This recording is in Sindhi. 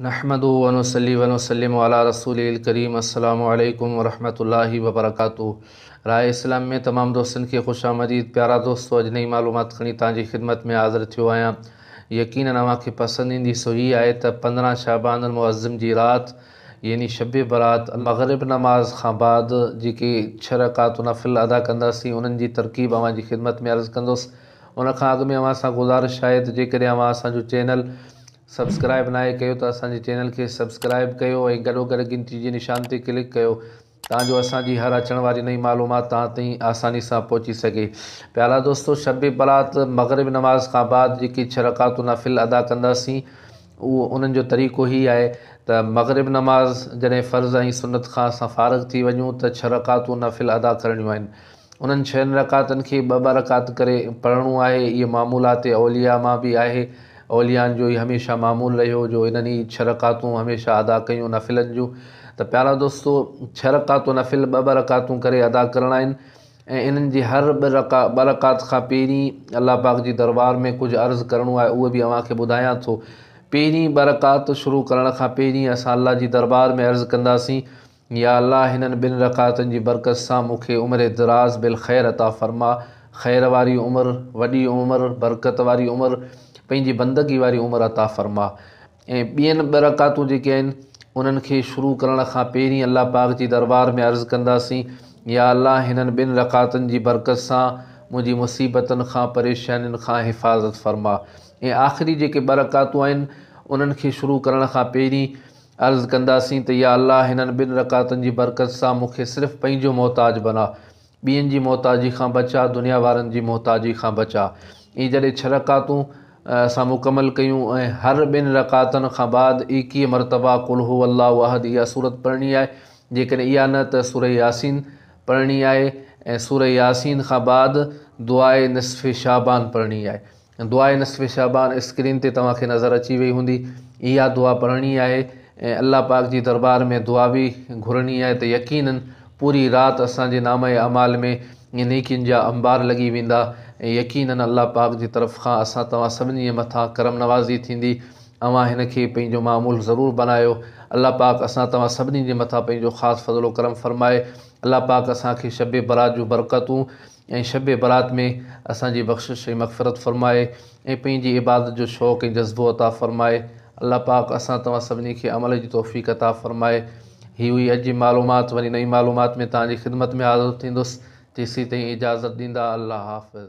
نحمده ونصلي ونسلم علي رسوله الڪريم السلام عليڪم ورحمة الله وبرڪاته راء اسلام ۾ تمام دوستن کي خوش آمديد پيارا دوستو اڄ نئين معلومات کڻي توهان جي خدمت ۾ حاضر ٿيو آهيان يقينن اوهان کي پسند ايندي سو هي آهي ته پندرهن شعبان المعظم جي رات يعني شب برات مغرب نماز کان بعد جيڪي ڇهه رڪعتون نفل ادا ڪنداسين انهن جي ترڪيب اوهان جي خدمت ۾ عرض ڪندس ان کان اڳ ۾ اوهان سان گذارش آهي ته جيڪڏهن اوهان اسان جو چينل سبسڪرائب ناهي ڪيو ته اسان جي چينل کي سبسڪرائب ڪيو ۽ گڏو گڏ گهنٽي جي نشان تي ڪلڪ ڪيو تان جو اسان جي هر اچڻ واري نئين معلومات توهان تائين آساني سان پهچي سگهي پيارا دوستو شب برات مغرب نماز کان بعد جيڪي ڇهه رڪعتون نفل ادا ڪنداسين اهو انهن جو طريقو هي آهي ته مغرب نماز جڏهن فرض ۽ سنت کان اسان فارغ ٿي وڃون ته ڇهه رڪعتون نفل ادا ڪرڻيون آهن انهن ڇهن رڪعتن کي ٻه ٻه رڪعت ڪري پڙهڻو آهي. اهي معمولات اولياء مان به آهي. اوليائن جو هي هميشه معمول رهيو جو انهن هي ڇهه رڪعتون هميشه ادا ڪيون نفلن جون. ته پيارا دوستو! ڇهه رڪعتون نفل ٻه ٻه رڪعتون ڪري ادا ڪرڻا آهن ۽ انهن جي هر ٻه رڪعت کان پهرين الله پاڪ جي دربار ۾ ڪجهه عرض ڪرڻو آهي اهو به اوهان کي ٻڌايان ٿو. پهرين ٻه رڪعت شروع ڪرڻ کان پهرين اسان الله جي دربار ۾ عرض ڪنداسين. يا الله هنن ٻن رڪعتن جي برڪت سان مون کي عمر دراز بالخير عطا فرما، خير واري عمر، وڏي عمر، برڪت واري عمر، پنهنجي بندگي واري عمر عطا فرما ۽ ٻين ٻه رڪعتون جيڪي آهن انهن کي شروع ڪرڻ کان پهرين الله پاڪ جي دربار ۾ عرض ڪنداسين يا الله هنن ٻن رڪعتن جي برڪت سان منهنجي مصيبتن کان پريشانين کان حفاظت فرما ۽ آخري جيڪي ٻه رڪعتون آهن انهن کي شروع ڪرڻ کان پهرين عرض ڪنداسين ته يا الله هنن ٻن رڪعتن جي برڪت سان مون کي صرف پنهنجو محتاج بنا، ٻين جي محتاجي کان بچاء، دنيا وارن جي محتاجي کان بچاء. ائين جڏهن ڇهه رڪعتون اسان مڪمل ڪيون ۽ هر ٻن رڪعتن کان بعد ايڪيهه مرتبا قل هو الله احد اها سورت پڙهڻي آهي، جيڪڏهن اها نه ته سوره ياسين پڙهڻي آهي ۽ سوره ياسين کان بعد دعاء نصف شعبان پڙهڻي آهي. دعاء نصف شعبان اسڪرين تي توهان کي نظر اچي وئي هوندي اها دعا پڙهڻي آهي ۽ الله پاڪ جي دربار ۾ دعا به گهرڻي آهي ته يقينن پوري رات اسان جي نامه اعمال ۾ نيڪين جا انبار لڳي ويندا ۽ يقينن الله پاڪ جي طرف کان اسان توهان سڀني مٿان ڪرم نوازي ٿيندي اوهان هن کي پنهنجو معمول ضرور بنايو الله پاڪ اسان توهان سڀني جي مٿان پنهنجو خاص فضل و ڪرم فرمائي الله پاڪ اسان کي شب برات جون برڪتون ۽ شب برات ۾ اسان جي بخشش ۽ مغفرت فرمائي ۽ پنهنجي عبادت جو شوق ۽ جذبو عطا فرمائي الله پاڪ اسان توهان سڀني کي عمل جي توفيق عطا فرمائي هي هئي اڄ جي معلومات وري نئين معلومات ۾ توهان جي خدمت ۾ حاضر ٿيندس تيسين تائين اجازت ڏيندا الله حافظ.